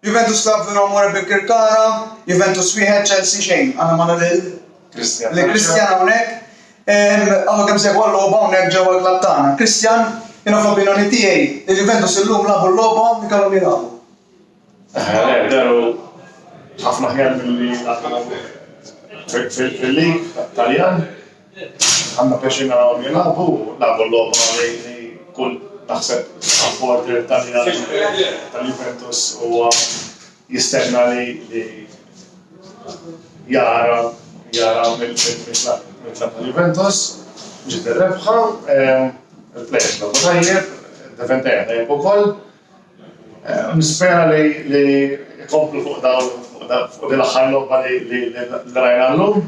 Juventus Club Vino Amore Birkirkara, Juventus wieħed, Chelsea xejn. Għandna magħna lil li Kristjan hawnhekk. Għamlu kemm segwa l-logħba hawnhekk ġewwa l-klabb tagħna. Kristjan, jiena fl-opinjoni tiegħi, il-Juventus illum labu l-logħba li kellhom jilagħbu. Eh, daru ħafna ħjar milli fil-lig Taljan. Għandna pjaċir narahom jilagħbu, lagħbu logħba li kull naħseb supporter Taljan tal-Juventus huwa jistenna li jara jara mill-klabb tal-Juventus ġiet ir-rebħa. Il-plejers lagħbu tajjeb, id-defender tajjeb ukoll. Nispera li jkomplu fuq dawn fuq din l-aħħar logħba li rajna llum.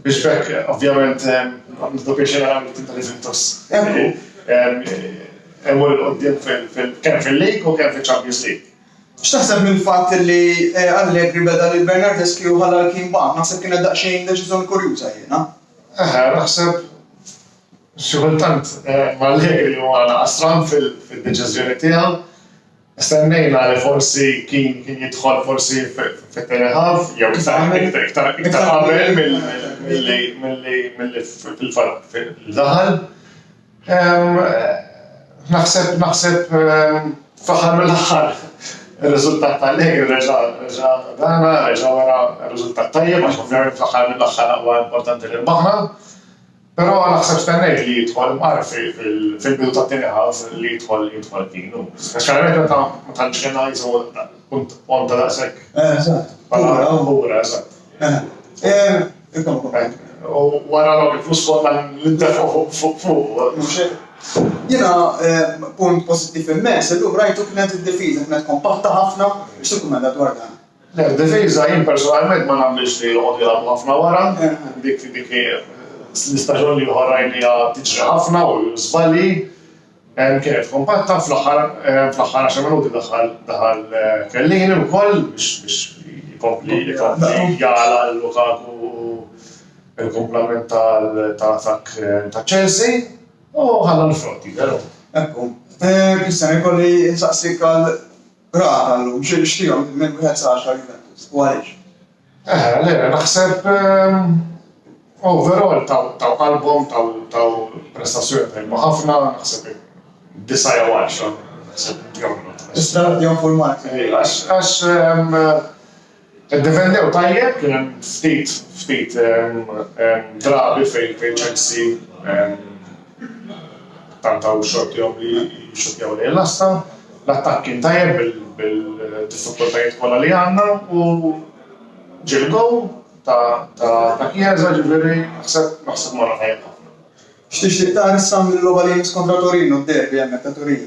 Biex bekk, ovvjament, nibdu biex naraw li tinta l-Juventus. Emmur il-qoddim kemm fil-League u kemm fil-Champions League. X'taħseb mill-fatt li Allegri beda lil Bernardeschi u ħalla l-Keen Bam? Naħseb kienet daqsxejn deċiżjoni kurjuża jiena. Eħe, naħseb xi kultant Allegri huwa naqas stram fid-deċiżjoni tiegħu. Stennejna li forsi Keane kien jidħol forsi fit-tieni half jew iktar qabel milli fil-fatt Naħseb naħseb fl-aħħar mill-aħħar ir-riżultat ta' Allegri reġa' dana, reġa' wera riżultat tajjeb għax ovvjament fl-aħħar mill-aħħar huwa importanti li rbaħna. Però naħseb stennejt li jidħol Murphy fil-bidu tat-tieni half li jidħol jidħol Keane hu. Speċjalment meta ma tantx kien għajs u punt ponta daqshekk. Eżatt. Bħala Mbura, eżatt. U wara dawk il-flus kollha li ntefgħu fuq fuq. Jiena punt pożittiv immens illum rajtu kienet id-difiża kienet kompatta ħafna, x'tikkumenta dwar dan? Le, difiża jien personalment ma nagħmilx li joqogħdu jilgħabu ħafna wara, dik dik hi l-istaġun li ieħor rajniha tiġri ħafna u żbalji, kienet kompatta, fl-aħħar fl-aħħar għaxar minuti daħal daħal Chiellini wkoll biex biex jkompli jkompli jagħlaq Lukaku l-kumplament tal tal-attakk ta' Chelsea u ħalla l-frott jidher. Ekku. Christian, jkolli insaqsik għal Brav tal-lum, xi nixtieqhom li minn wieħed sa għaxar Juventus, u għaliex? Eħe, le, naħseb overall taw qalbhom, taw prestazzjoni tajba ħafna, naħseb disa' jew għaxra, naħseb jagħmlu. Tista' tagħtihom full marks? Għax Iddefendew tajjeb, kien hemm ftit ftit drabi fejn Chelsea tentaw xortihom li jixxuttjaw lejn l-għassa. L-attakk kien tajjeb bil-diffikultajiet kollha li għandna u ġie l-gowl ta' Chiesa, ġifieri naħseb naħseb morna tajjeb ħafna. X'tixtieq tara issa mill-logħba li jmiss kontra Torino, d-derby hemmhekk ta' Turin?